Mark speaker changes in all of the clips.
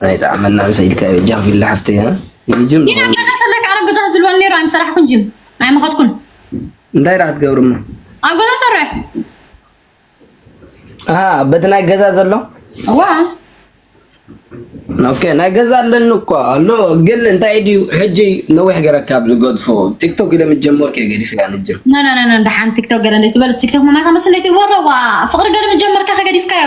Speaker 1: ናይ ጣዕመና ምሰ ኢልካ በጃኽ ቪላ ሓፍተይ ጅም ዲና ገዛ
Speaker 2: ተለካ ዓረብ ገዛ ዝልወል ነይሩ ኣይምሰራሕኩን ጅም ኣይመኸትኩን እንታይ ዳ
Speaker 1: ክትገብርሞ ኣብ ገዛ
Speaker 2: ሰርሕ
Speaker 1: በቲ ናይ ገዛ ዘሎ ዋ ኦኬ ናይ ገዛ ኣለኒ እኮ ኣሎ ግን እንታይ ድዩ ሕጂ ነዊሕ ገረካ ኣብ ዝገድፎ ቲክቶክ ኢለ ምጀመርኩ እየ ገዲፈያ ንጅር ናናናና ደሓን
Speaker 2: ቲክቶክ ገረ ትበልስ ቲክቶክ መማይካ መስለይ ትግበሮ ዋ ፍቅሪ ገረ ምጀመርካ ከገዲፍካዮ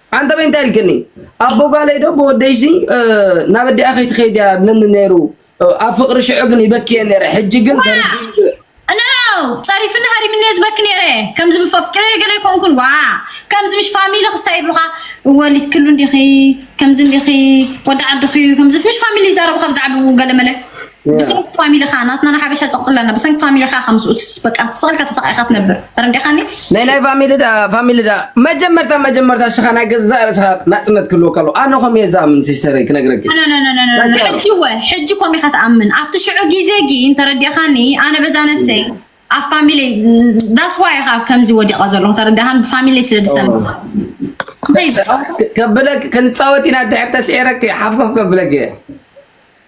Speaker 2: ኣንታ በይ እንታይ
Speaker 1: ኢልክኒ ኣቦ ጓለይ ዶ ብወደይሲ ናብ ኣዲኣ ከይትኸይድ እያ ብለኒ ነይሩ ኣብ ፍቅሪ ሽዑ ግን ይበኪ እየ ነይረ ሕጂ ግን ኖ
Speaker 2: ፀሪፍኒ ሃሪምኒ እየ ዝበኪ ነይረ ከምዚ ምስ ኣፍቂረ ገለ ኣይኮንኩን ዋ ከምዚ ምስ ፋሚሊ ክስታይ ይብሉኻ ወሊት ክሉ እንዲኺ ከምዚ እንዲኺ ወዲ ዓድኺ እዩ ከምዚ ምስ ፋሚሊ ይዛረቡኻ ብዛዕብኡ ገለ መለ ብሰንኪ ፋሚሊኻ ናትና ንሓበሻ ፀቕጢ ኣለና ብሰንኪ ፋሚሊኻ ከምስኡ በቃ ስቕልካ ተሰቃይካ ትነብር ተረዲኻኒ ናይ ናይ ፋሚሊ
Speaker 1: ዳ ፋሚሊ ዳ መጀመርታ መጀመርታ ሽኻ ናይ ገዛእ ርእስኻ ናፅነት ክህልዎ ከሎ ኣነ ከምኡ እየ ዝኣምን ሲስተረይ ክነግረኪ ሕጂ
Speaker 2: ወ ሕጂ ኮም ኢኻ ትኣምን ኣብቲ ሽዑ ግዜ ግን ተረዲኻኒ ኣነ በዛ ነብሰይ ኣብ ፋሚሊ ዳስ ዋይ ኢኻ ከምዚ ወዲቐ ዘለኹ ተረዲኻኒ ብፋሚሊ ስለ ዝሰምዕ
Speaker 1: ከብለኪ ክንፃወት ኢና ድሕር ተስዒረኪ ሓፍኮፍ ከብለኪ እየ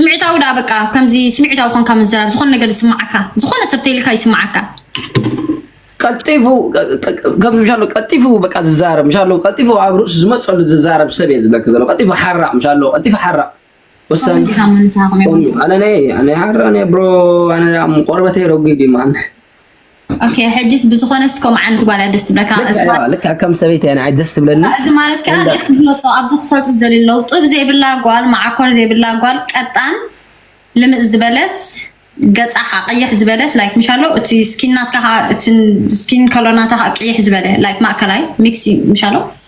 Speaker 1: ስምዒታዊ
Speaker 2: ደኣ በቃ ከምዚ ስምዒታዊ ኮንካ ምዝራብ ዝኾነ ነገር ዝስማዓካ ዝኾነ ሰብ ተይልካ ይስማዓካ
Speaker 1: ቀልጢፉ ከም ምሻሎ ቀልጢፉ በቃ ዝዛረብ ምሻሎ ቀልጢፉ ኣብ ርእሱ ዝመፀሉ ዝዛረብ ሰብ እየ ዝብለክ ዘሎ ቀልጢፉ ሓራቕ ምሻሎ ቀልጢፉ ሓራቕ ወሳኒ ኣነ ናይ ኣነ ሓራ ናይ ብሮ ኣነ ቆርበተይ ረጒድ እዩ ማን ኦኬ
Speaker 2: ሕጂስ ብዝኾነ ስኮም ዓንዲ ጓል ደስ ትብለካ ልክዕ ከም
Speaker 1: ሰበይቲ እያ ንዓይ ደስ ትብለኒ እዚ ማለት ከዓ ደስ
Speaker 2: ዝመፆ ኣብዚ ክፈልጡ ዝደልዩ ኣለዉ ጥብ ዘይብላ ጓል መዓኮር ዘይብላ ጓል ቀጣን ልምፅ ዝበለት ገፃ ከዓ ቀይሕ ዝበለት ላይክ ምሻሎ እቲ ስኪን ናትካ ከዓ እቲ ስኪን ከሎር ናታ ከዓ ቀይሕ ዝበለ ላይክ ማእከላይ ሚክሲ ምሻሎ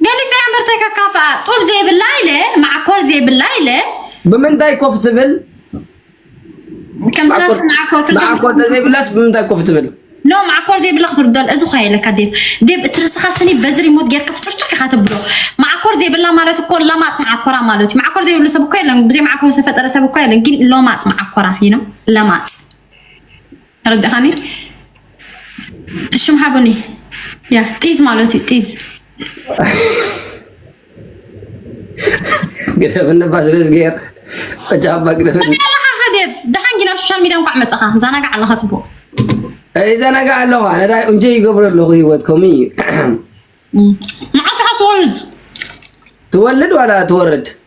Speaker 2: ገሊፀ እምበር ተከካፍኣ ጡብ ዘይብላ ኢለ ማዓኮር ዘይብላ ኢለ ብምንታይ ኮፍ
Speaker 1: ትብል
Speaker 2: ማዓኮር ተዘይብላስ
Speaker 1: ብምንታይ ኮፍ ትብል ኖ ማዓኮር ዘይብላ
Speaker 2: ክትርዶል እዚ ኳ የለካ ዴብ ዴብ እቲ ርስኻ ስኒ በዚ ሪሞት ጌርካ ፍጭርጭፍ ኢኻ ተብሎ ማዓኮር ዘይብላ ማለት እኮ ለማፅ ማዓኮራ ማለት እዩ ማዓኮር ዘይብሉ ሰብ እኮ የለን ብዘይ ማዓኮር ዝተፈጠረ ሰብ እኮ የለን ግን ለማፅ ማዓኮራ ይኖ ለማፅ ተረዳኻኒ ሽም ሓቡኒ ያ ጢዝ ማለት እዩ ጢዝ
Speaker 1: ግደፍ እንባ ስለ ዝገር
Speaker 2: ጃባ ግደፍ ኣለኻ
Speaker 1: ከደብ
Speaker 2: ደሓን ጊና ሶሻል ሚዲያ እንኳዕ መፀኻ ዛናጋዕ
Speaker 1: ኣለኻ
Speaker 2: ፅቡቅ
Speaker 1: ይዘናጋዕ ኣለኻ ነዳይ እንጀ ይገብረ ኣለኹ ሂወት ከምኡ እዩ መዓስ
Speaker 2: ኢኻ ትወልድ
Speaker 1: ትወልድ ዋላ ትወርድ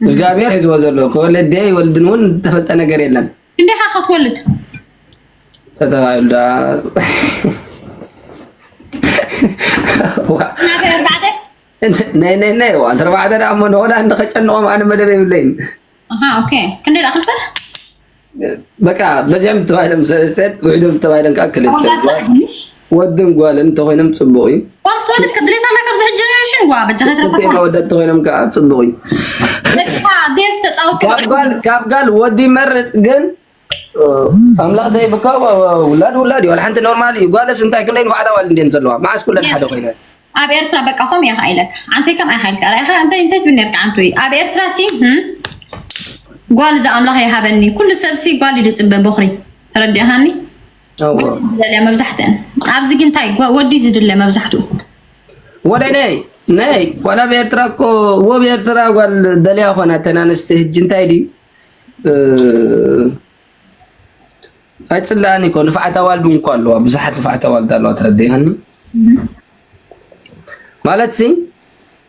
Speaker 1: እግዚኣብሔር ሒዝዎ ዘሎ ከወለደ ይወልድን እውን ዝተፈልጠ ነገር የለን። እንዴኻ
Speaker 2: ክትወልድ
Speaker 1: ተተባሂሉ ዳ ናይ ናይ ናይ ዋን ተርባዕተ ዳ እሞ ንሆላንድ ከጨንቖም ኣነ መደብ የብለይን ኣሃ ኦኬ
Speaker 2: ክንደይ ደኣ ክልተ
Speaker 1: በቃ በዚሖም ተባሂሎም ሰለስተት ውሕዶም ተባሂሎም ከዓ ክልተ ወድን ጓልን እንተኮይኖም ፅቡቅ እዩ ወልት ከድሌታ
Speaker 2: ና ካብዚ ሕጂ ጀነሬሽን ዋ በጃ ከይትረፈና ወደ እንተኮይኖም ከዓ
Speaker 1: ፅቡቅ
Speaker 2: እዩ ካብ ጋል
Speaker 1: ወዲ ይመርፅ ግን ኣምላኽ ዘይብካ ውላድ ውላድ እዩ። ሓንቲ ኖርማል እዩ። ጓልስ እንታይ ክንደይ ንፋዕታ ዋል እንዴን ዘለዋ መዓስ ኩለን ሓደ ኮይነ ኣብ ኤርትራ በቃ
Speaker 2: ከም እያ ከዓ ኢለካ ዓንተ ከም ኣይካ ኢልካ ራኢካ እንታይ እንታይ ትብል ነርካ ዓንተ እዩ ኣብ ኤርትራ ሲ ጓል እዚ ኣምላኽ ይሃበኒ ኩሉ ሰብ ሲ ጓል እዩ ዝፅበ በኹሪ ተረዲእካኒ ዝደልያ መብዛሕትአን ኣብዚ ግን እንታይ ወዲ ዝድለ መብዛሕትኡ ወደ
Speaker 1: ነይ ነይ ጓል ኣብ ኤርትራ እኮ ወብ ኤርትራ ጓል ደልያ ኮና ተናንስቲ ህጂ እንታይ ድዩ ኣይፅላኣን እኮ ንፋዓት ኣዋልድ እውን እኮ ኣለዋ ብዙሓት ንፋዓት ኣዋልድ ኣለዋ ተረዲኣኒ ማለት ሲ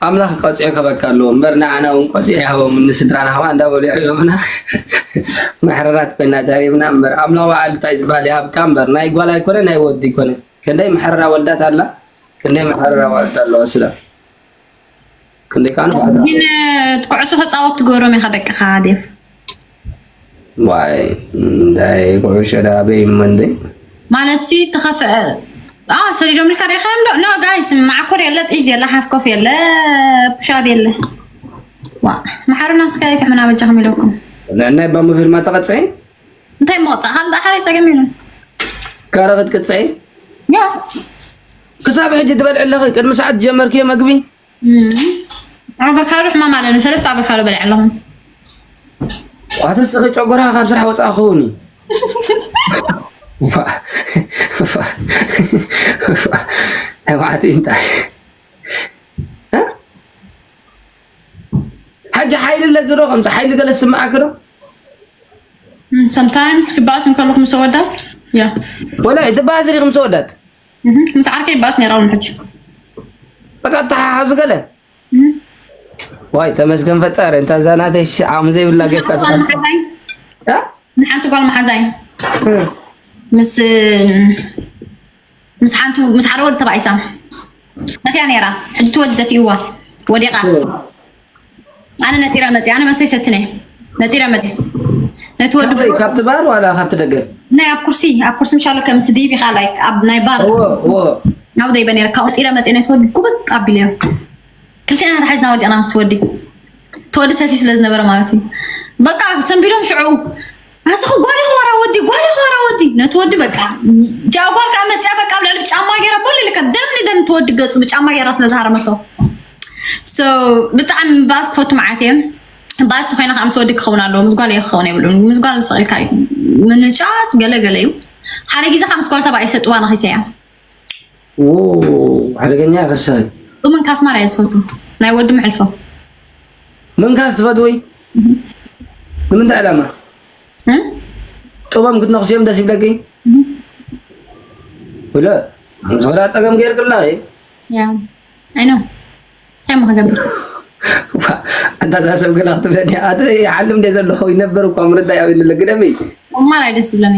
Speaker 1: ኣምላኽ ቀፂዑ ከበካ ኣለዎ እምበር ንዓና እውን ቀፂዑ ይሃቦም ንስድራና ከዓ እንዳበሉ ይሕቦምና መሕረራት ኮይና ተሪብና እምበር ኣምላኽ በዓል እንታይ ዝበሃል ይሃብካ እምበር ናይ ጓል ኣይኮነ ናይ ወዲ ይኮነ ክንደይ መሕረራ ወልዳት ኣላ ክንደይ መሕረራ ዋልድ ኣለዋ ስለ ክንደይ ከኣ ግን
Speaker 2: ኩዕሶ ክጻወት ትገብሮም ኢኻ ደቅኻ ዴቭ
Speaker 1: ዋይ እንታይ ኩዕሾ ዳ ኣበይ እሞ እንደ ማለት
Speaker 2: ሲ ተኸፈ ኣ ሰሪዶም ኢልካ ሪኢኻዮም ዶ ኖ ጋይስ ማዕኮር የለ ጥይዝ የለ ሓፍ ኮፍ የለ ፑሻብ የለ ዋ መሓሩና ስካይ ትሕምና በጃኹም ኢለኩም ናይ ባሞ
Speaker 1: ፊልማ ተቐፀ እንታይ
Speaker 2: መቕፃዕ ሃንዳ ሓረይ ፀገም የለን ካረ
Speaker 1: ክትቅፅዒ ያ ክሳብ ሕጂ ትበልዒ ኣለኺ ቅድሚ ሰዓት ጀመርክዮ መግቢ
Speaker 2: ኣበካዶ ሕማም ኣለኒ ሰለስተ ኣበካዶ በልዐ ኣለኹ ኣትስኺ
Speaker 1: ጨጎራ ካብ ስራሕ ወፃእ ክኸውን እዩ ተባዕቲ እንታይ ሕጂ ሓይሊ ኣለኪ ዶ ከምዚ ሓይሊ ገለ ዝስምዓኪ ዶ ሰምታይምስ
Speaker 2: ክበኣስ እንከለኹ ምስ ኣወዳት ያ ወላ ትበኣሲ
Speaker 1: ዲኺ ምስ ኣወዳት ምስ ዓርከይ
Speaker 2: ይበኣስ ነይረ እውን ሕጂ
Speaker 1: በቃ ተሓሓዙ ገለ ዋይ ተመስገን ፈጣሪ እንታ እዛ ናተይ ዓቕሚ ዘይብላ ጌርካ ንሓንቲ ጓል
Speaker 2: መሓዛይ ምስ ምስ ሓንቲ ምስ ሓደ ወዲ ተባኢሳ መጺኣ ነይራ ሕጂ እቲ ወዲ ደፊእዋ ወዲቓ ኣነ ነጢረ መጺኣ ኣነ መስተይ ሰትነ ነጢረ መጺኣ ነቲ ወዲ ካበይ ካብቲ ባር
Speaker 1: ዋላ ካብቲ ደገ ናይ ኣብ ኩርሲ
Speaker 2: ኣብ ኩርሲ ምሻሎ ከም ምስ ዲቪ ከኣ ላይክ ኣብ ናይ ባር እዎ እዎ ናብ ደይበ ነይረ ካብኡ ነጢረ መጺኣ ነቲ ወዲ ጉብጥ ኣቢለዮ ክልቴና ተሓዝና ወዲቕና ምስቲ ወዲ እቲ ወዲ ሰትዩ ስለ ዝነበረ ማለት እዩ በቃ ሰንቢዶም ሽዕኡ ኣስኹ ጓል ኢኹ ዋራ ወዲ ጓል ኢኹ ዋራ ወዲ ነቲ ወዲ በቃ እቲኣ ጓል ከዓ መፅያ በቃ ኣብ ልዕሊ ብጫማ ገይራ ቦል ኢልካ ደም ንደም ትወዲ ገፁ ብጫማ ገይራ ስለ ዝሃረመቶ ሶ ብጣዕሚ ባእስ ክፈቱ መዓት እየ ባእስ ተኮይና ከዓ ምስ ወዲ ክኸውን ኣለዎ ምስ ጓል እየ ክኸውን የብሉን ምስ ጓል ስቕ ኢልካ እዩ ምንጫት ገለገለ እዩ ሓደ ግዜ ከዓ ምስ ጓል ተባዕ ይሰጥዋ ንኺሰያ ሓደገኛ
Speaker 1: ኢኻ ሲሳይ። ብምንካስ ማራ እየ
Speaker 2: ዝፈቱ ናይ ወዲ መዕልፎ
Speaker 1: ምንካስ ትፈትዊ ንምንታይ ዕላማ ጥቦም ክትነኽስዮም ደስ ይብለኪ ብለ ዝኽዳ ፀገም ገይርክላ እዩ ኣይኖ እንታይ
Speaker 2: ሞ ክገብር
Speaker 1: ኣንታ እዛ ሰብ ገላ ክትብለኒ ኣቲ ይሓልም እንደ ዘለኹ ይነበር እኳ ምርዳይ ኣብኒ ለግደሚ ማራ ደስ ይብለኒ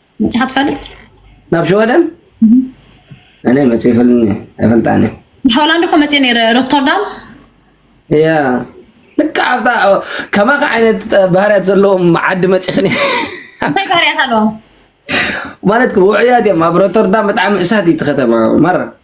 Speaker 1: መጽሓ
Speaker 2: ትፈልጥ ናብ
Speaker 1: ሸወደን እኔ መጽ ይፈልኒ ኣይፈልጣኒ ሆላንድ እኮ መጽ
Speaker 2: ነረ ሮተርዳም
Speaker 1: እያ ልካ ኣብታ ከማኻ ዓይነት ባህርያት ዘለዎም ዓዲ መፂኽኒ እንታይ ባህርያት
Speaker 2: ኣለዎም ማለት
Speaker 1: ውዕያት እዮም ኣብ ሮተርዳም ብጣዕሚ እሳት እዩ እቲ
Speaker 2: ከተማ
Speaker 1: መራ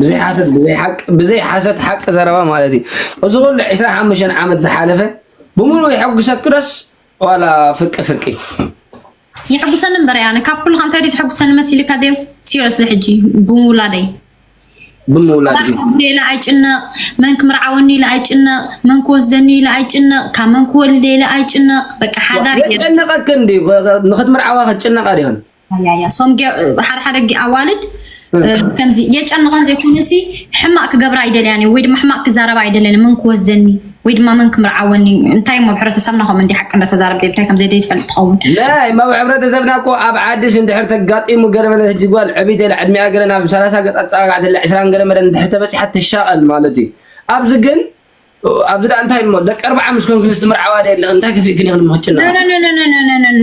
Speaker 1: ብዘይ ሓሰት ብዘይ ሓቂ ብዘይ ሓሰት ሓቂ ዘረባ ማለት እዩ እዚ ኩሉ 25 ዓመት ዝሓለፈ ብምሉእ የሐጉሰኪ ዶስ ዋላ ፍርቂ ፍርቂ
Speaker 2: የሐጉሰኒ እምበር ያነ ካብ ኩሉ ከንታይ ድዩ ዘሐጉሰኒ መሲልካ ደ ሲሪየስሊ ሕጂ ብምውላደይ ብምውላድ ኢለ ኣይጭነቕ መን ክምርዓወኒ ኢለ ኣይጭነቕ መን ክወስደኒ ኢለ ኣይጭነቕ ካብ መን ክወልደ ኢለ ኣይጭነቕ በቃ ሓዳር የጨንቐክን ድዩ
Speaker 1: ንክትምርዓዋ ክትጭነቓ ድዮን ያያ ሶም
Speaker 2: ሓደ ሓደ ኣዋልድ ከምዚ የጨንቐን ዘይኮነሲ ሕማቅ ክገብራ ኣይደልያን ወይ ድማ ሕማቅ ክዛረባ ኣይደልያን መን ክወስደኒ ወይ ድማ መን ክምርዓወኒ እንታይ እሞ ሕብረተሰብና ከምኡ እንዲ ሓቂ እንዳተዛረብ እንታይ ከም ዘይ ትፈልጥ ትኸውን ናይ ማብ
Speaker 1: ሕብረተሰብና እኮ ኣብ ዓድሽ እንድሕር ተጋጢሙ ገለ መለ ህጂ ጓል ዕብይቲ ኢላ ዕድሚኣ ገለ ናብ ሰላሳ ገፅ ኣፀጋጋዕቲ ዕስራን ገለ መለ እንድሕር ተበፂሓ ትሻቐል ማለት እዩ ኣብዚ ግን ኣብዚ ደኣ እንታይ እሞ ደቂ ኣርብዓ ምስ ኮንክንስ ትምርዓዋ ደ ኣለኽን እንታይ ከፊእክን ኢኽን ምክጭና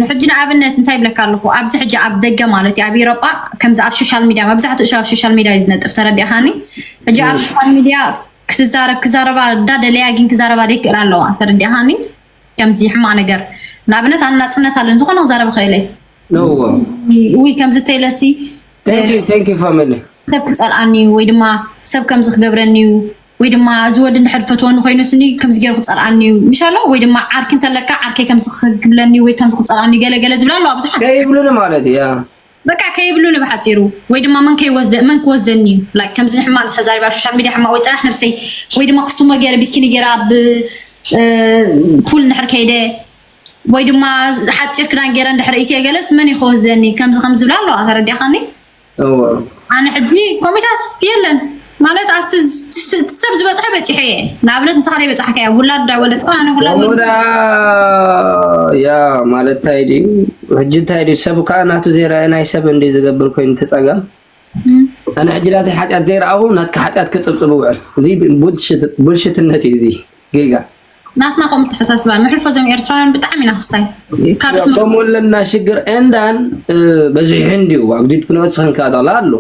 Speaker 2: ሕጂ ንኣብነት እንታይ ይብለካ ኣለኹ ኣብዚ ሕጂ ኣብ ደገ ማለት እዩ ኣብ ኢሮጳ ከምዚ ኣብ ሶሻል ሚድያ መብዛሕትኡ ሰብ ኣብ ሶሻል ሚድያ እዩ ዝነጥፍ ተረዲእኻኒ ሕጂ ኣብ ሶሻል ሚድያ ክትዛረብ ክዛረባ እንዳደለያ ግን ክዛረባ ደይክእል ኣለዋ ተረዲእኻኒ ከምዚ ሕማቅ ነገር ንኣብነት ኣነ ናፅነት ኣለን ዝኾነ ክዛረብ ኽእል ውይ
Speaker 1: ከምዚ
Speaker 2: ተይለሲ
Speaker 1: ሰብ ክፀልኣኒ
Speaker 2: ወይ ድማ ሰብ ከምዚ ክገብረኒ እዩ ወይ ድማ እዚ ወዲ እንድሕር ፈትወኒ ኮይኑስኒ ከምዚ ገይሩ ክፀልኣኒ እዩ ምሽ ኣሎ ወይ ድማ ዓርኪ እንተለካ ዓርከይ ከምዚ ክብለኒ ወይ ከምዚ ክፀልኣኒ እዩ ገለ ገለ ዝብላ ኣለዋ ብዙሓት ከይብሉኒ ማለት እዩ ያ
Speaker 1: በቃ ከይብሉኒ
Speaker 2: ብሓፂሩ ወይ ድማ መን ከይወስደ መን ክወስደኒ እዩ ላይክ ከምዚ ሕማቅ ተዛሪባ ኣብ ሶሻል ሚድያ ሕማቅ ወይ ጥራሕ ነብሰይ ወይ ድማ ክስቱመ ገይረ ቢኪኒ ገይረ ኣብ ፑል እንድሕር ከይደ ወይ ድማ ሓፂር ክዳን ገይረ እንድሕር ኢትየ ገለስ መን እዩ ክወስደኒ ከምዚ ከምዚ ዝብላ ኣለዋ ተረዲእኻኒ ኣነ ሕጂ ኮሜታት የለን ማለት ኣብቲ ሰብ ዝበፅሐ በፂሐ እየ ንኣብነት ንስኻ ደይ በፅሓካ እያ ውላድ ዳ ወለት ኣነ ውላዳ ያ
Speaker 1: ማለት እንታይ ድዩ ሕጂ እንታይ ድዩ ሰብ ከዓ ናቱ ዘይረአ ናይ ሰብ እንዲ ዝገብር ኮይኑ ትፀገም ኣነ ሕጂ ናተይ ሓጢኣት ዘይረኣኹ ናትካ ሓጢኣት ክፅብፅብ ውዕል እዚ ቡልሽትነት እዩ እዚ ጌጋ ናትና ከምኡ
Speaker 2: ተሓሳስባ መሕልፎ ዞም ኤርትራውያን ብጣዕሚ ኢና ክስታይ ከምኡ
Speaker 1: ኣለና ሽግር እንዳን በዚሑ እንዲዩ ኣብ ዲድ ክነወት ሰንካ ዳላ ኣሎ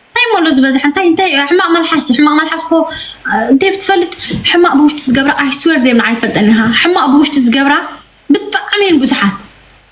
Speaker 1: እንታይ ሞሎ ዝበዝሐ
Speaker 2: እንታይ እንታይ ሕማቅ መልሓስ እዩ ሕማቅ መልሓስ እኮ ዴቭ ትፈልጥ ሕማቅ ብውሽጢ ዝገብራ ኣይስወር ዴቭ ንዓይ ትፈልጠኒ ኢኻ ሕማቅ ብውሽጢ ዝገብራ ብጣዕሚ እየን ብዙሓት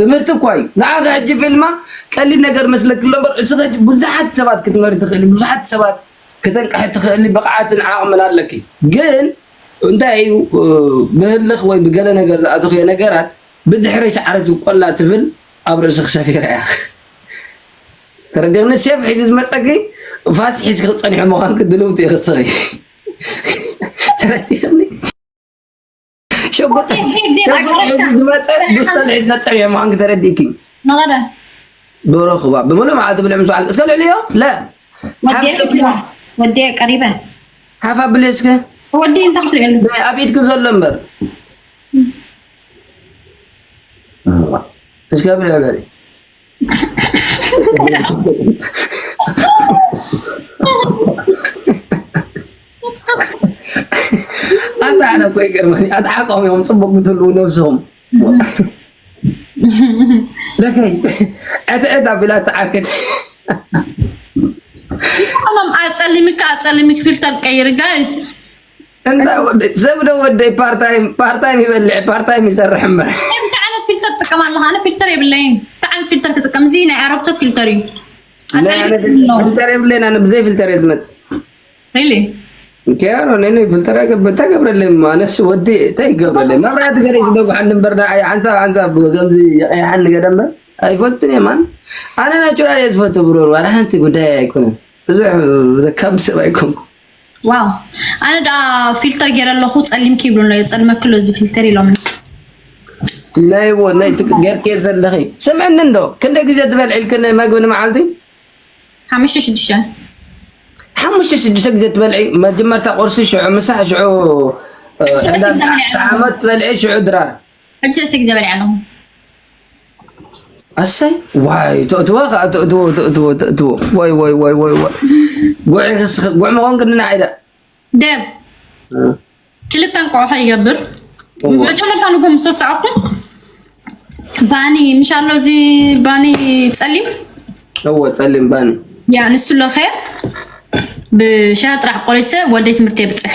Speaker 1: ትምህርቲ እኳ እዩ ንዓኺ ሕጂ ፊልማ ቀሊል ነገር መስለኪ ኣሎ እምበር እስኺ ሕጂ ብዙሓት ሰባት ክትመሪ ትኽእሊ ብዙሓት ሰባት ከተንቅሒ ትኽእሊ ብቕዓትን ዓቕምን ኣለኪ ግን እንታይ እዩ ብህልኽ ወይ ብገለ ነገር ዝኣተኽዮ ነገራት ብድሕረይ ሰዓረት ቆላ ትብል ኣብ ርእስኺ ሰፊራ እያ ተረዲኽኒ ሴፍ ሒዙ ዝመፀኪ ፋስ ሒዝኪ ክትፀኒሑ ምዃንኪ ድልውቲ ኢኺ እስኺ ተረዲኽኒ ሸጉጥ ዝመፀ ዱስተን ሒዝ መፀር እየ ምዃን ክተረዲእኪ
Speaker 2: ዶሮ
Speaker 1: ክዋ ብምሉእ መዓልቲ ብልዕ ምስ በዓል እስከ ልዕልዮ ለ ወዲየ
Speaker 2: ቀሪበ ሓፍ ኣብልዮ
Speaker 1: እስከ ወዲ እንታይ
Speaker 2: ክትሪእሉ ኣብ ኢድኪ ዘሎ እምበር
Speaker 1: እስከ ብልዕ በሊ ኣታ ኣነ እኮ ይገርመኒ ኣትሓቆም እዮም ፅቡቅ ብትልው ነብሶም ለከይ ዕትዕት ኣቢላ ተዓክት
Speaker 2: ኣጸሊምካ ኣጸሊምክ ፊልተር ቀይር ጋይስ እንታይ
Speaker 1: ወደይ ዘብደ ወደይ ፓርታይም ፓርታይም ይበልዕ ፓርታይም ይሰርሕ እምበር እንታይ ዓይነት
Speaker 2: ፊልተር ትጥቀም ኣለካ ኣነ
Speaker 1: ፊልተር የብለይን እንታይ ዓይነት ፊልተር ክጥቀም እዚ ናይ ዓረብቶት ፊልተር
Speaker 2: እዩ ፊልተር የብለይን
Speaker 1: ኣነ ብዘይ ፊልተር እየ ዝመፅእ ሪሊ ኬሮ ነነ ፊልተር ገብ እንታይ ገብረለይ ኣነስ ወዲ እንታይ ይገብረለይ መብራህቲ ገለ ዝደጉሓኒ እምበር ሓንሳብ ሓንሳብ ከምዚ የቀይሓኒ ገለ እምበር ኣይፈትን እየ ማን ኣነ ናቹራል እየ ዝፈቱ ብሮ ዋላ ሓንቲ ጉዳይ ኣይኮነን ብዙሕ ዘካብድ ሰብ ኣይኮንኩ ዋው ኣነ
Speaker 2: ደኣ ፊልተር ገይረ ኣለኹ ጸሊም ኪብሉ ኣሎ የጸልመኪ ኣሎ እዚ ፊልተር ኢሎምኒ
Speaker 1: ናይዎ ናይ ገርክዮ ዘለኺ ስምዕኒ እንዶ ክንደይ ግዜ ትበልዒልኪ መግቢ ንመዓልቲ ሓሙሽተ ሽዱሽተ ሓሙሽተ ሽዱሽተ ግዜ ትበልዒ መጀመርታ ቁርሲ ሽዑ ምሳሕ ሽዑ ዓመት ትበልዒ ሽዑ ድራር ሕጂ ርእሲ ግዜ
Speaker 2: በሊዐ ኣለኹ።
Speaker 1: ኣሰይ ዋይ ተእትዋ ከዓ ተእትዎ ተእትዎ ተእትዎ ወይ ወይ ወይ ወይ ወይ ጉዕ ክስኽ ጉዕ ምኾን ግን ንዓይዳ ደብ
Speaker 2: ክልተ እንቋቑሖ ይገብር መጀመርታ ንጎ ምስ ወሰዕኹ ባኒ ምሽ ኣሎ እዚ ባኒ ፀሊም እዎ
Speaker 1: ፀሊም ባኒ ያ ንሱ ለኸ
Speaker 2: ብሻሂ ጥራሕ ቆሪሰ ወደይ ትምህርቲ የብፅሕ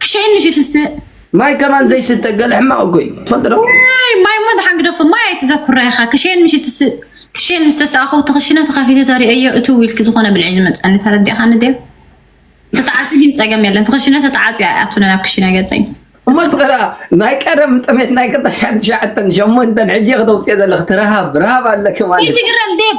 Speaker 1: ክሸይን
Speaker 2: ምሽ ትስእ ማይ ከማን
Speaker 1: ዘይስተ ገለ ሕማቕ እኮ እዩ ትፈልጥ ዶ ማይ ሞ ድሓን
Speaker 2: ግደፎ ማይ ኣይትዘኩራ ኢኻ ክሸይን ምሽ ትስእ ክሸይን ምስ ተሰኣኹ እቲ ክሽነ ተኸፊቱ ተርእየዮ እቲ ዊልኪ ዝኾነ ብልዒ ዝመፀኒ ተረዲእኻ ንድያ ተተዓፂ ግን ፀገም የለን ትኽሽነ ተተዓፂ ኣይኣቱነ ናብ ክሽነ ገፀኝ እሞ ዝኸዳ
Speaker 1: ናይ ቀደም ጥሜት ናይ ቅጠሻን ትሽዓተን ሸሞንተን ሕጂ ከተውፅኦ ዘለኽ ትረሃብ ረሃብ ኣለኪ ማለት እዩ ትግረም ዴብ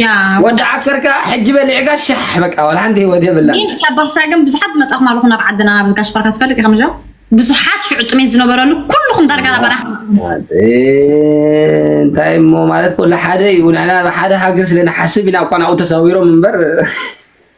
Speaker 2: ያ ወዲ ዓከር
Speaker 1: ከኣ ሕጂ በሊዕካ ሻሕ በቃ ዋላ ሓንቲ ህይወት የብላ ግን ሳባሳ ግን
Speaker 2: ብዙሓት መጻኹም ኣለኹም ናብ ዓድና ናብ ጋሽ ባርካ ትፈልጥ ኢኻ ምዞ ብዙሓት ሽዑ ጥሜት ዝነበረሉ ኩልኹም ዳርጋ ናብ ኣና
Speaker 1: እንታይ እሞ ማለት ኮሎ ሓደ እዩ ንሕና ሓደ ሃገር ስለ ንሓስብ ኢና እኳ ናብኡ ተሰዊሮም እምበር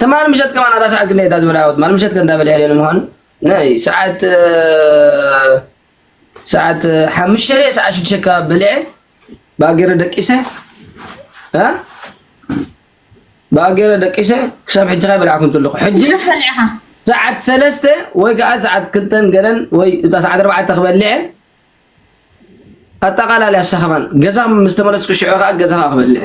Speaker 1: ትማል ምሸት ከማን ኣታ ሰዓት ክንደይ እታ ዝበልዓዎ ትማል ምሸት ከ እንታይ በሊዐ ንምዃኑ ናይ ሰዓት ሰዓት ሓሙሽተ ድየ ሰዓት ሽዱሽተ ኣካባቢ በሊዐ ባጌረ ደቂሰ ባጌረ ደቂሰ ክሳብ ሕጂ ካይ በልዓኩም ዘለኹ ሕጂ
Speaker 2: ሰዓት ሰለስተ
Speaker 1: ወይ ከዓ ሰዓት ክልተን ገለን ወይ እታ ሰዓት ኣርባዕተ ክበልዐ ኣጠቃላሊ ኣሰኸማን ገዛ ምስ ተመለስኩ ሽዑ ከዓ ገዛ ከዓ ክበልዐ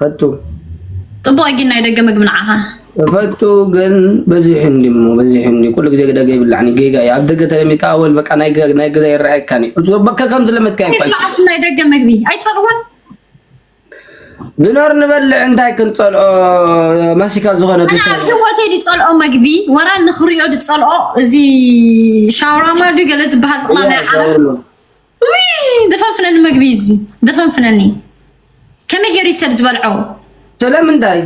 Speaker 1: ፈቱ ጽቡቅ
Speaker 2: ጊን ናይ ደገ ምግቢ ንዓኻ ፈቱ
Speaker 1: ግን በዚሑ እንዲ እሞ በዚሑ እንዲ ኩሉ ግዜ ደገ ይብላዕኒ ጌጋ እዩ ኣብ ደገ ተለሚድካ ኣወል በቃ ናይ ገዛ ይረኣየካን እዩ እዞ በከ ከም ዝለመድካ ይፋሽ ናይ ደገ ምግቢ
Speaker 2: ኣይትጸልዎን
Speaker 1: ዝኖር ንበልዕ እንታይ ክንጸልኦ ማሲካ ዝኾነ ህወተ ዝጸልኦ
Speaker 2: መግቢ ወራ ንኽሪኦ ዝጸልኦ እዚ ሻውራማ ዱ ገለ ዝበሃል ጥላ ናይ ዓረፍ ደፈንፍነኒ መግቢ እዩ እዚ ደፈንፍነኒ ከመይ ገይሩ እዩ ሰብ
Speaker 1: ዝበልዖ ስለምንታይ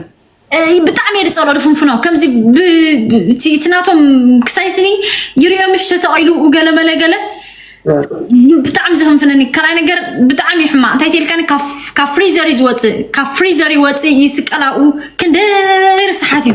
Speaker 2: ብጣዕሚ እየ ዝፀልኦ ድፍንፍኖ ከምዚ እቲ ናቶም ክሳይ ስኒ ይርዮ ምሽ ተሰቂሉ ገለ መለ ገለ ብጣዕሚ ዘፈንፍነኒ ካልኣይ ነገር ብጣዕሚ እዩ ሕማቅ እንታይ ተልካኒ ካብ ፍሪዘር እዩ ዝወፅእ ካብ ፍሪዘር ይወፅእ ይስቀል ኣብኡ ክንደይ ርስሓት እዩ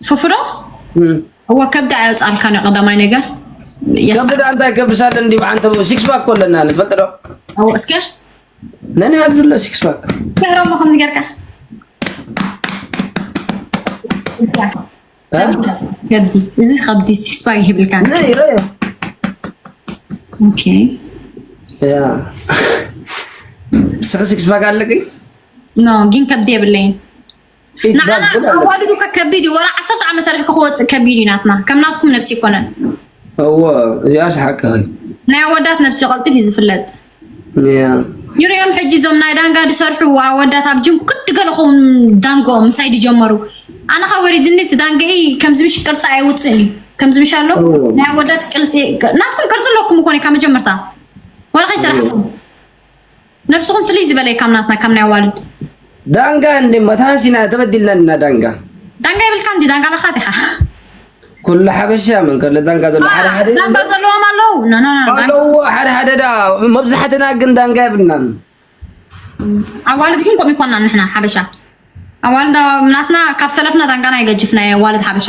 Speaker 1: ፉፉ ዶ
Speaker 2: እወ ከብዲ ኣየውጻልካን እዩ ቀዳማይ ነገር ከብዲ
Speaker 1: ዳንታ ይከብሳለ እንዲ ብዓንተ ሲክስ ፓክ እኮ ኣለና ንፈልጥ ዶ እወ እስከ
Speaker 2: ነን
Speaker 1: ኣብዚ ኣሎ ሲክስ ፓክ ገሮሞ ከምዚ
Speaker 2: ጌርካ ከብዲ እዚ ከብዲ ሲክስ ፓክ ይህብልካ ናይ ረዮ ኦኬ
Speaker 1: ያ ስክስ ፓክ ኣለቂ ኖ ግን
Speaker 2: ከብዲ የብለይን ንዓና ኣዋልዱ ከ ከቢድ እዩ ወላ ዓሰርተ ዓመት ሰሪሕኩ ክወፅእ ከቢድ እዩ ናትና ከም ናትኩም ነብሲ ይኮነን እዎ
Speaker 1: እዚኣስ ሓቂ ናይ ኣወዳት
Speaker 2: ነብሲ ቀልጢፍ እዩ ዝፍለጥ
Speaker 1: ይሪኦም ሕጂ
Speaker 2: እዞም ናይ ዳንጋ ዝሰርሑ ኣወዳት ኣብ ጅም ክዲ ገለ ኸውን ዳንጎኦም ምሳይ ዝጀመሩ ኣነ ካብ ወሪድኒ እቲ ዳንገኢ ከምዚ ምሽ ቅርፂ ኣይውፅእን እዩ ከምዚ ምሽ ኣሎ ናይ ኣወዳት ቅልፂ ናትኩም ቅርፂ ኣለኩም እኮ ካብ መጀመርታ ወላ ከይሰራሕኩም ነብስኹም ፍልይ ዝበለ እዩ ካብ ናትና ካብ ናይ ኣዋልድ። ዳንጋ
Speaker 1: እንዴ መታሲና ተበዲልና ዲና ዳንጋ። ዳንጋ የብልካን ድዩ
Speaker 2: ዳንጋ ኣለካ ዲካ። ኩሉ
Speaker 1: ሓበሻ መን ከሎ ዳንጋ ዘሎ ሓደ ሓደ ዳንጋ ዘለዎም
Speaker 2: ኣለው ኣለው ሓደ
Speaker 1: ሓደ ዳ መብዛሕትና ግን ዳንጋ የብልናን ኣዋልድ
Speaker 2: ግን ከምኡ ይኮና ንሕና ሓበሻ ኣዋልድ ናትና ካብ ሰለፍና ዳንጋና ይገጅፍና ኣዋልድ ሓበሻ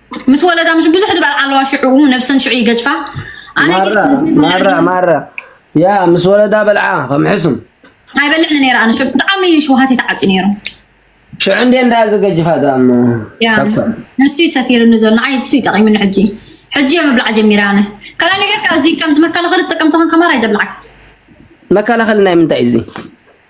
Speaker 2: ምስ ወለዳ ምስ ብዙሕ ድባል ኣለዋ ሽዑ ነብሰን ሽዑ ይገጅፋ ማራ
Speaker 1: ማራ ያ ምስ ወለዳ በልዓ ከም ሕሱም ኣይበልዕን
Speaker 2: ነይራ ኣነ ሽዑ ብጣዕሚ ሽውሃት ተዓፅዩ ነይሩ ሽዑ እንደ
Speaker 1: እንዳ ዘገጅፋ ዳሞ
Speaker 2: ንሱ እዩ ሰቲርኒ ዘሎ ንዓይ ንሱ እዩ ጠቂምኒ ሕጂ ሕጂ እየ ምብላዕ ጀሚረ ኣነ ካልኣ ነገር እዚ ከምዚ መከላኸሊ ትጥቀም ተኾንካ ማራ ኣይደብልዓካ
Speaker 1: መከላኸሊ ናይ ምንታይ እዩ እዚ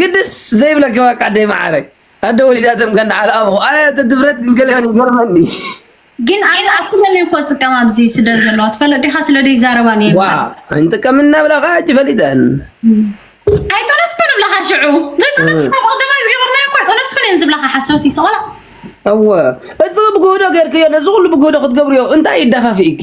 Speaker 1: ግድስ ዘይብለኪ ባቃ ኣደይ ማዓረይ ኣደ ወሊዳቶም ከ እንዳ ኣልኣምኹ ኣነ እቲ ድፍረት ግን ገለ ይገርመኒ ግን ኣነ ኣኩለን እኮ
Speaker 2: ጥቀም ኣብዚ ስደ ዘለዋ ትፈለጥ ዲኻ ስለ ደይ ዛረባ ነይ ዋ እንጥቀም
Speaker 1: እናብላኻ ሕጂ ፈሊጠን
Speaker 2: ኣይጠነስኩን እብላኻ ሽዑ ዘይጠነስኩ ቅድማይ ዝገበርናዮ እኮ ኣይጠነስኩን እየን ዝብላኻ ሓሰውቲ
Speaker 1: ሰቆላ እወ እዚ ብግህዶ ጌርክዮ ነዚ ኩሉ ብግህዶ ክትገብርዮ እንታይ ይደፋፍኢኪ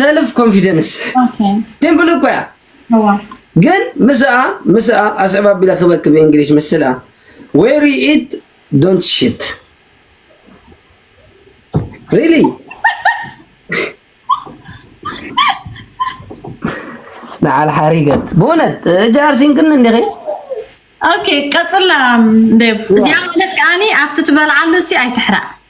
Speaker 2: ሰልፍ
Speaker 1: ኮንፊደንስ ሲምፕል
Speaker 2: እኮ
Speaker 1: እያ
Speaker 2: ግን
Speaker 1: ምስኣ ምስኣ ኣስዕብ ኣቢለ ክበክ ብእንግሊሽ ምስልኣ ዌር ኢት ዶንት ሽት ሪሊ ንዓል ሓሪገት ብእውነት ጃርሲንክን እንዲኺ ኦኬ
Speaker 2: ቀፅላ እዚኣ ማለት ከዓኒ ኣብቲ ትበልዓሉ ሲ ኣይትሕራእ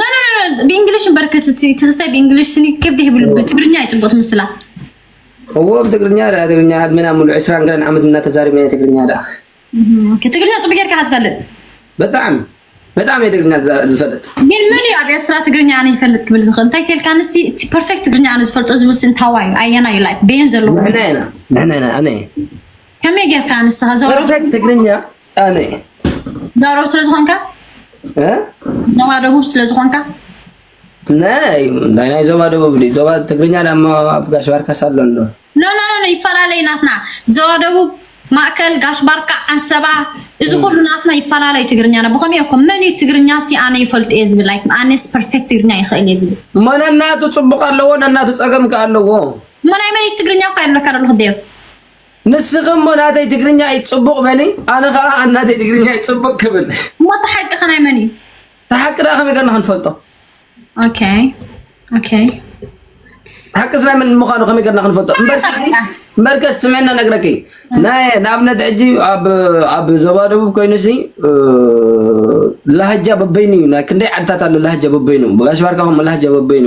Speaker 1: ኖኖኖኖ
Speaker 2: ብእንግሊሽ እምበር ክትቲ ትግስታይ ብእንግሊሽ ስኒ ከብዲ ህብሉ ብትግርኛ ይጽቡቅ ትምስላ እዎ
Speaker 1: ብትግርኛ ደኣ ትግርኛ ዕድመና ሙሉእ ዕስራን ገለን ዓመት እናተዛሪብና ናይ ትግርኛ ደኣ ትግርኛ
Speaker 2: ጽቡቅ ጌርካ ኢካ ትፈልጥ ብጣዕሚ
Speaker 1: ብጣዕሚ እየ ትግርኛ ዝዛ- ዝፈልጥ ግን መን እዩ ኣብ
Speaker 2: ኤርትራ ትግርኛ ኣነ ይፈልጥ ክብል ዝኽእል እንታይ ተልካ ንሲ እቲ ፐርፌክት ትግርኛ ኣነ ዝፈልጦ ዝብል ሲ እንታዋይ እዩ ኣየና እዩ ላይክ በየን ዘለኹ ንሕና ኢና ንሕና ኢና
Speaker 1: ኣነ እየ ከመይ
Speaker 2: ጌርካ ንስኻ ዘወረ ፐርፌክት ትግርኛ
Speaker 1: ኣነይ ዛረብ
Speaker 2: ስለ ዝኾንካ ዞባ ደቡብ ስለ ዝኾንካ ናይ
Speaker 1: ናይ ዞባ ደቡብ ዲ ዞባ ትግርኛ ዳሞ ኣብ ጋሽ ባርካስ ኣሎ ኣሎ ኖ ኖ ኖ
Speaker 2: ይፈላለይ ናትና ዞባ ደቡብ ማእከል ጋሽ ባርካ ዓንሰባ እዚ ኩሉ ናትና ይፈላለዩ ትግርኛና ብኸመይ እኮ መን እዩ ትግርኛ ሲ ኣነ ይፈልጥ እየ ዝብል ላይክ ኣነስ ፐርፌክት ትግርኛ ይኽእል እየ ዝብል እሞ ነናቱ ፅቡቕ
Speaker 1: ኣለዎ ነናቱ ፀገም ከ ኣለዎ እሞ ናይ መን እዩ
Speaker 2: ትግርኛ እኳ የብለካ ደለኹ ዴቭ ንስኺ
Speaker 1: እሞ ናተይ ትግርኛ እዩ ጽቡቕ በሊ፣ ኣነ ከኣ ኣብ ናተይ ትግርኛ እዩ ጽቡቕ ክብል። እሞ እቲ ሓቂ ከ ናይ
Speaker 2: መን እዩ? እቲ ሓቂ ደኣ ከመይ
Speaker 1: ገርና ክንፈልጦ? ኦኬ
Speaker 2: ኦኬ
Speaker 1: ሓቅስ ናይ መን ምዃኑ ከመይ ገርና ክንፈልጦ? እምበርከስ ስምዕና ነግረኪ ናይ ንኣብነት ሕጂ ኣብ ዞባ ደቡብ ኮይኑሲ ላህጃ በበይኑ እዩ ናይ ክንደይ ዓድታት ኣሎ ላህጃ በበይኑ ብጋሽ ባርካ ከምኡ ላህጃ በበይኑ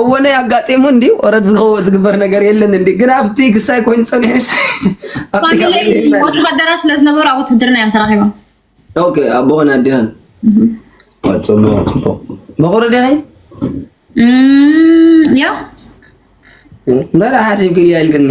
Speaker 1: እወነ ያጋጤሙ እንዲ ወረድ ዝኸወ ዝግበር ነገር የለን እንዲ ግን ኣብቲ ግሳይ ኮይኑ ፀኒሑ ወተሃደራ
Speaker 2: ስለ ዝነበሩ ኣብ ውትድርና እዮም ተራኺቦም ኦኬ
Speaker 1: ኣቦኸን ኣዴኸን ቀፅሎ ፅቡቅ በቑሪ ዲኺ
Speaker 2: ያ
Speaker 1: መራ ሓሲብክያ ኢልክኒ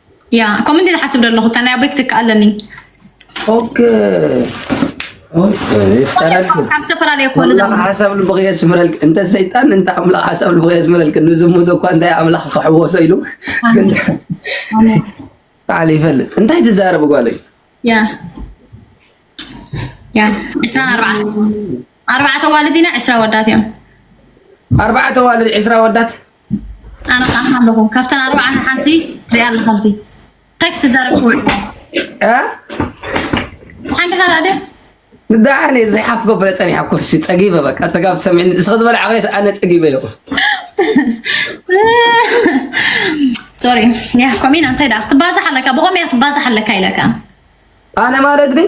Speaker 1: ያ ከምኡ
Speaker 2: እንዲ ዝሓስብ ዘለኹ እታ ናይ ኣቦይ ክትክእ ኣለኒ
Speaker 1: ካብ ዝተፈላለዩ
Speaker 2: ኮሉ ሓሳብ ልቢ የስምረልክ
Speaker 1: እንተ ሰይጣን እንተ ኣምላኽ ሓሳብ ልቢ የስምረልክ ንዝሙት እኳ እንታይ ኣምላኽ ክሕወሶ ኢሉ በዓል ይፈልጥ እንታይ ትዛረብ ጓለይ ያ
Speaker 2: ያ ዕስራን ኣርባዕተ ኣርባዕተ ኣዋልድ ኢና ዕስራ ወዳት እዮም ኣርባዕተ
Speaker 1: ኣዋልድ ዕስራ ወዳት ኣነ
Speaker 2: ከዓ ኣለኹ ካብተን ኣርባዕተ ሓንቲ ሪኣ ኣለኻ ብቲ እንታይ ክትዛረብ ትውዕል ሓንቲ ካልኣ ድያ ንዳሓር
Speaker 1: ነዚ ሓፍ ገበለ ፀኒሓ ኩርሲ ፀጊበ በቃ ፀጋብ ሰሚዕኒ ንስኸ ዝበለ ዓኸ ኣነ ፀጊበ ይኹ ሶሪ ያ ኮሚና
Speaker 2: እንታይ ደኣ ክትባዛሕ ኣለካ ብኸመይ ክትባዛሕ ኣለካ ኢለካ ኣነ
Speaker 1: ማለት ግን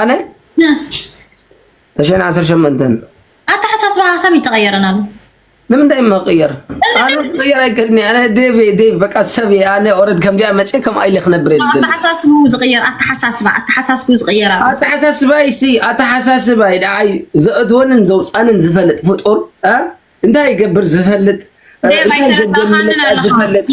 Speaker 2: ኣነ
Speaker 1: ተሸን
Speaker 2: ዓሰርተ ሸሞንተ
Speaker 1: ኣተሓሳስባ
Speaker 2: ሀሳብ
Speaker 1: ይተቀየረን
Speaker 2: ኣሎ
Speaker 1: ንምንታይ መቅየር ኣነ ቅየር ኣይከድኒ ኣነ ዴቭ ዴቭ በቃ ሰብ እየ ኣነ ኦረድ ከምዚኣ መፅእ ከም ኣይለ ክነብር
Speaker 2: ኣተሓሳስቡ ዝቅየር ኣተሓሳስባ ኣተሓሳስቡ
Speaker 1: ዝቅየር ኣተሓሳስባይ ሲ ኣተሓሳስባይ ደዓይ ዘእትወንን ዘውፃንን ዝፈልጥ ፍጡር እንታይ ይገብር ዝፈልጥ እንታይ ዘገምልፀት ዝፈልጥ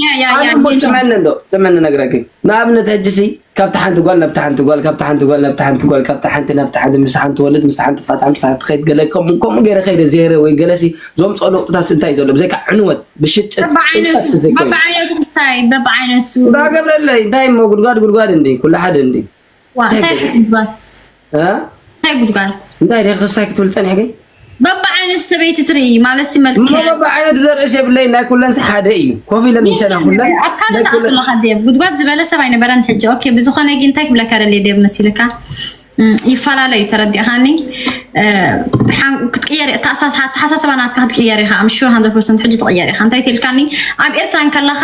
Speaker 1: ዘመኒ ዶ ዘመኒ ነግረኪ ንኣብነት ሕጂ ሲ ካብቲ ሓንቲ ጓል ናብቲ ሓንቲ ጓል ካብቲ ሓንቲ ጓል ናብቲ ሓንቲ ጓል ካብቲ ሓንቲ ናብቲ ሓንቲ ምስ ሓንቲ ወልድ ምስ ሓንቲ ፋታ ምስ ሓንቲ ከይድ ገለ ከምኡ ከምኡ ገይረ ከይደ ዜረ ወይ ገለ ሲ ዘምፅኦ ለውጥታት እንታይ ዘሎ ብዘይካ ዕንወት ብሽጭት ጭንቀት ዘይኮይኑ
Speaker 2: በብዓይነቱ ክስታይ በብዓይነቱ እንዳገብረለይ እንታይ
Speaker 1: እሞ ጉድጓድ ጉድጓድ እንዲ ኩሉ ሓደ እንዲ እንታይ ጉድጓድ
Speaker 2: እንታይ ደ ክሳይ ክትብል
Speaker 1: ፀኒሕ ግን በብዓይነት
Speaker 2: ሰበይቲ ትርኢ ማለት መልክበብዓይነት ዘርእስ
Speaker 1: የብለይ ናይ ኩለንስ ሓደ እዩ ኮፍ ኢለን ምሸና ኩለን ኣብ ካልእ ተኣክለካ
Speaker 2: ዴብ ጉድጓድ ዝበለ ሰብ ኣይነበረን ሕጂ ኦኬ ብዝኾነ ግን እንታይ ክብለካ ደልየ ዴብ መሲልካ ይፈላለ እዩ ተረዲእካኒ ክትቅየር ኣተሓሳስባ ናትካ ክትቅየር ኢኻ ኣምሹ ሃንድረድ ፐርሰንት ሕጂ ትቕየር ኢኻ እንታይ ትልካኒ ኣብ ኤርትራ እንከለኻ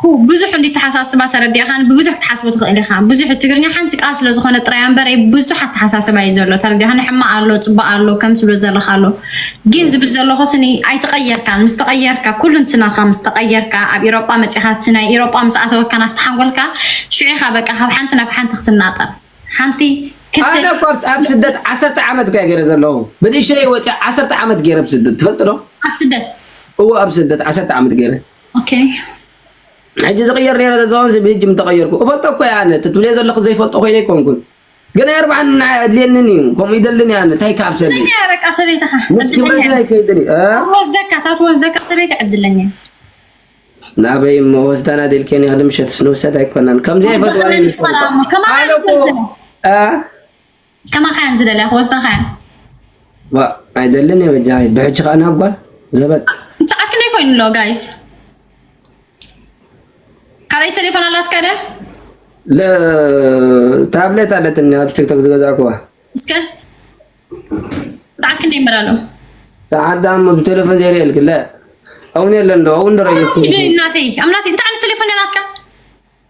Speaker 1: ኩ ብዙሕ እንዲ
Speaker 2: ተሓሳስባ ተረዲእኻኒ ብብዙሕ ክትሓስቦ ትኽእል ኢኻ ብዙሕ ትግርኛ ሓንቲ ቃል ስለ ዝኾነት ጥራይ ኣምበር እይ ብዙሕ ኣተሓሳስባ እዩ ዘሎ ተረዲእኻኒ ሕማቅ ኣሎ ጽቡቅ ኣሎ ከምዚ ትብሎ ዘለኻ ኣሎ ጊን ዝብል ዘለኹ ስኒ ኣይተቀየርካን ምስ ተቀየርካ ኩሉንትናኻ ምስ ተቀየርካ ኣብ ኢሮጳ መጺኻ እቲ ናይ ኢሮጳ ምስ ኣተወካ ናብቲ ሓንጎልካ ሽዑ ኢኻ በቃ ካብ ሓንቲ ናብ ሓንቲ ክትናጠር ሓንቲ ኣነ እኳ
Speaker 1: ኣብ ስደት ዓሰርተ ዓመት እኳ ገይረ ዘለኹ ብንእሸተይ ወፂኣ ዓሰርተ ዓመት ገይረ ኣብ ስደት ትፈልጢ ዶ ኣብ ስደት
Speaker 2: እወ ኣብ ስደት
Speaker 1: ዓሰርተ ዓመት ገይረ ሕጂ ዝቕየር ነረ ተዛውን ዝብህጅ ምተቐየርኩ እፈልጦ እኮ እየ ኣነ ትብልዮ ዘለኹ ዘይፈልጦ ኮይነ ኣይኮንኩን ግን ኣይርብሓን ንዓይ ኣድልየንን እዩ ከምኡ ይደልን እየ ኣነ እንታይ ካብ ሰብ በቃ ሰበይትኻ
Speaker 2: ምስ ክብረተይ ኣይከይድን
Speaker 1: እዩ ወስደካ ታት
Speaker 2: ወስደካ ሰበይቲ ዕድለኛ
Speaker 1: ናበይ እሞ ወስዳና ደልከኒ ክዲ ምሸትስ ንውሰድ ኣይኮናን ከምዚ ኣይፈትዋን ኣነ እኮ
Speaker 2: ከማኻ እየን ዝደልያ ክወስዳኻ እየን ዋእ
Speaker 1: ኣይደልን እየ በጃኺ ብሕጂ ከዓ ናብ ጓል ዘበት ሰዓት ክንደይ ኮይኑ
Speaker 2: ኣሎ ጋይስ ካልኣይ ቴሌፎን ኣላትካ ድያ
Speaker 1: ታብሌት ኣለትኒ ኣብ ቲክቶክ ዝገዛእኩዋ እስከ
Speaker 2: ሰዓት ክንደይ ይመላሎ ሰዓት
Speaker 1: ዳሞ ብቴሌፎን ዘይርእየልክ ለ እውን የለን ዶ እውን ዶ ረእየስ እናተይ ኣብ ናተይ እንታይ
Speaker 2: ዓይነት ቴሌፎን እያ ናትካ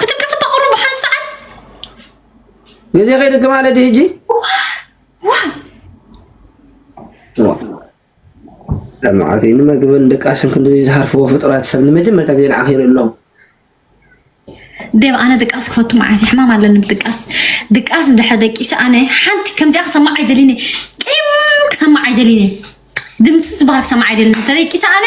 Speaker 2: ክትቅስ በቅሩ ብሓን ሰዓት
Speaker 1: ግዜ ከይድግም ኣለ ዲ ህጂ ለማዓት ንመግብን ድቃስን ክንዲ ዝሃርፍዎ ፍጡራት ሰብ ንመጀመርታ ግዜ ንዓኺ ይርኢ ኣለኹ ደብ
Speaker 2: ኣነ ድቃስ ክፈቱ መዓት ሕማም ኣለኒ ብድቃስ ድቃስ እንድሕር ደቂሰ ኣነ ሓንቲ ከምዚኣ ክሰማዕ ኣይደሊኒ ቅም ክሰማዕ ኣይደሊኒ ድምፂ ዝበሃል ክሰማዕ ኣይደሊኒ ተደቂሰ ኣነ